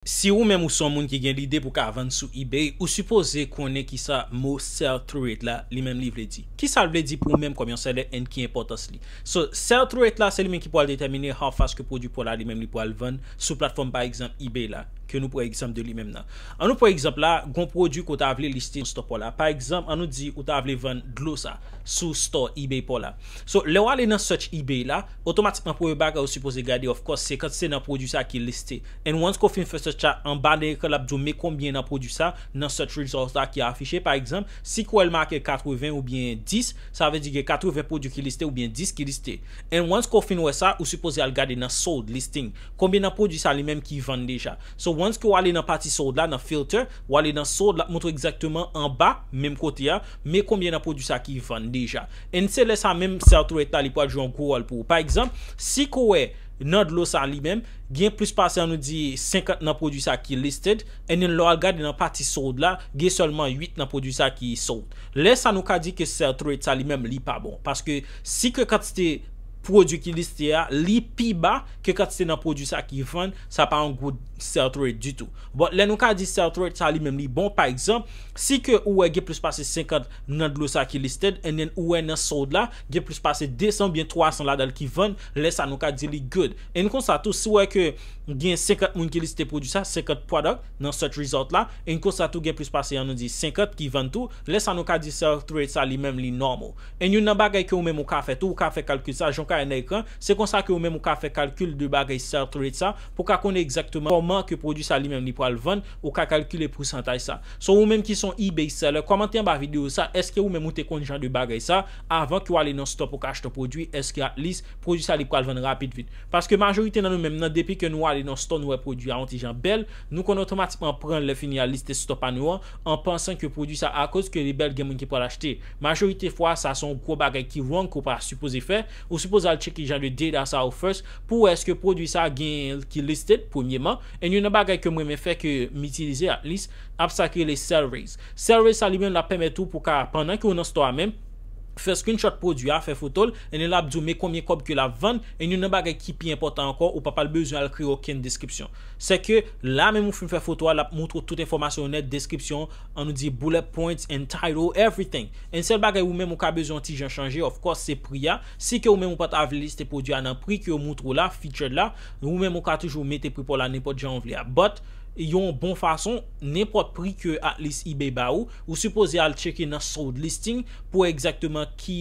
Si ou menm ou son moun ki gen lide pou ka vann sou ebay ou sipoze konnen kisa mo sell through it la li menm li vle di. Kisal vle di pou ou menm kòm yon seller and ki enpòtans li. So sell through it la se li menm ki pwal detèmine how fast ke pwodwi paw la li menm li pwal vann sou platfòm pa egzanp ebay la ke nou pran egzanp de li menm nan. An nou pran egzanp la gon pwodwi ke ou ta vle liste sou store paw la pa egzanp an nou di ou ta vle vann dlo sa sou store ebay paw la so lèw ale nan search ebay la otomatikman premye bagay ou sipoze gade of course se kantite nan pwodwi sa ki liste And once ko fin fè search la anba nan ekran lap diw me konbyen nan pwodwi sa nan search results la ki afiche pa egzanp si kwèl make 80 oubyen 10 sa vle di gen 80 pwodwi ki liste oubyen 10 ki liste and once ke w fin wè sa ou sipoze al gade nan sold listing konbyen nan pwodwi sa li menm ki vann deja so once ke w ale nan pati sold la nan filter w ale nan sold lap montre w egzakteman anba menm kote a me konbyen nan pwodwi sa ki vann deja and se lè sa menm sell to rate la li pwal jwe yon gwo wòl pou ou pa egzanp si ke w wè nan dlo sa li menm gen plis pase an nou di 50 nan pwodwi sa ki listed and then lè wal gade nan pati sold la gen sèlman 8 nan pwodwi sa ki sold lè sa nou ka di ke sell through rate sa li menm li pa bon paske si ke kantite pwodwi ki liste a li pi ba ke kantite nan pwodwi sa ki vann sa pa yon good sell through rate ditou but lè nou ka di sell through rate sa li menm li bon pa egzanp si ke ou wè gen plis pase 50 nan dlo sa ki listed and then ou wè nan sold la gen plis pase 200 oubyen 300 ladanl ki vann Lè sa nou ka di li good. And konsa tou si w wè ke gen 50 moun ki liste pwodwi sa, 50 product, nan search result la, and konsa tou gen plis pase an nou di 50 ki vann tou, lè sa nou ka di sell through rate sa li menm li normal. And youn nan bagay ke ou menm ou ka fè tou, ou ka fè kalkil sa, jan ou ka wè nan ekran, se konsa ke ou menm ou ka fè kalkil de bagay sell through rate sa, pou w ka konnen egzakteman kòman ke pwodwi sa li menm li pral vann, ou ka kalkile pousantaj sa. So ou menm ki son ebay seller, kòmante anba video sa, eske ou menm ou te konn jan de bagay sa, Avan ke w ale nan stò pou w ka achte yon pwodwi, eske at lis, pwodwi sa li pral vann rapid vit? Paske majorite nan nou menm nan depi ke nou ale nan stò nou wè pwodwi a yon ti jan bèl, nou konn otomatikman pran l lè fini al liste stò pa nou an, an pansan ke pwodwi sa akoz ke li bèl gen moun ki pral achte. Majorite fwa, sa se yon gwo bagay ki wrong ke w pa sipoze fè, ou sipoze al tcheke jan de data sa yo first pou w wè eske pwodwi sa genyen ki listed premyeman, and yon nan bagay ke m renmen fè ke m itilize at lis, App sa ki rele Sellraise. Sellraise sa li menm lap pèmèt ou pou ka pandan ke ou nan store a menm, fè screenshot pwodwi a, fè fotol, and then lap di ou men konbyen kòb ke lap vann, and yon nan bagay ki pi enpòtan ankò ou pa pral bezwen al kreye okenn deskripsyon. Sè ke la menm ou fin fè foto a lap moutre ou tout enfòmasyon yo nèt, deskripsyon, an nou di bullet points and title, everything. And sèl bagay ou menm ou ka bezwen yon ti jan chanje of course se pri a, si ke ou menm ou pa ta vle liste pwodwi a nan pri ke yo moutre ou la, featured la, ou menm ou ka toujou mete pri pa w la nenpòt jan ou vle a. But. yon bon fason, nenpòt pri ke Atlas Ebay ba ou, ou sipoze al tcheke nan sold listing pou wè egzakteman ki,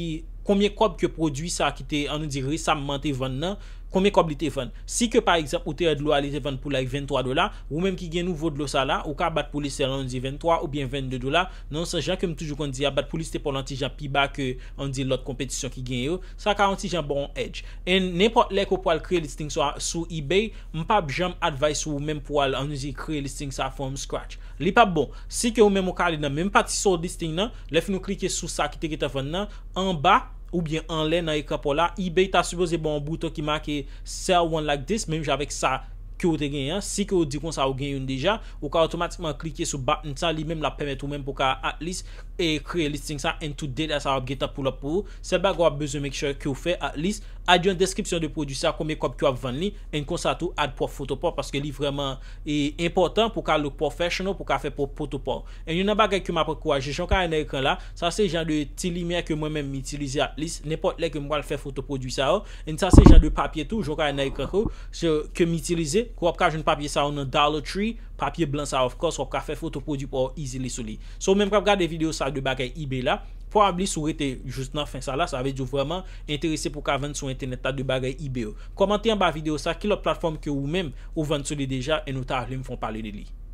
konbyen kòb ke pwodui sa ki te, an nou di resamman te vann nan, konbyen kòb li te vann. Si ke pa egzanp ou te wè dlo a li te vann pou like 23 dola, ou menm ki gen nouvo dlo sa la, ou ka bat pou li sèl an nou di 23 oubyen 22 dola, nan yon sans jan ke m toujou konn di a, bat pou li sipò l an ti jan pi ba ke, an nou di lòt konpetisyon ki genyen yo, sa ka yon ti jan ba w yon edge. And nenpòt lè ke w pwal kreye listing sa sou Ebay, M pap janm advice ou menm pou al an usine kreye listing sa from scratch. Li pap bon. Si ke ou menm ou ka ale nan menm pati sold listing nan, lè fin ou klike sou sa ki te gentan vann nan, anba oubyen anlè nan ekran paw la, ebay ta sipoze baw yon bouton ki make sell one like this menm jan avèk sa ke ou te genyen an, si ke ou di konsa ou gen youn deja, ou ka otomatikman klike sou button sa li menm lap pèmèt ou menm pou ka at least e kreye listing sa and tout data sa yo ap gentan pull up pou ou. Sèl bagay wap bezwen make sure ke ou fè at least. Add yon deskripsyon de pwodwi sa konbyen kòb ke wap vann li and konsa tou add pwòp foto paw paske li vrèman enpòtan pou ka look professional pou ka fè pwòp poto paw and yon nan bagay ke map ankouraje jan w ka wè nan ekran la sa se jan de ti limyè ke mwen menm m itilize at least nenpòt lè ke m pral fè foto pwodwi sa yo and sa se jan de papye tou jan w ka wè nan ekran ke ke m itilize ke wap ka jwenn papye sa yo nan dollar tree papye blan sa yo of course wap ka fè foto pwodwi paw easily sou li so ou menm kap gade video sa de bagay ebay la Probably si w rete jous nan fen sa la, sa vle di w vrèman enterese pou w ka vann sou entènèt la de bagay ebay yo. Kòmante anba video sa ki lòt platform ke ou menm ou vann sou li deja and ou ta vle m fon pale de li.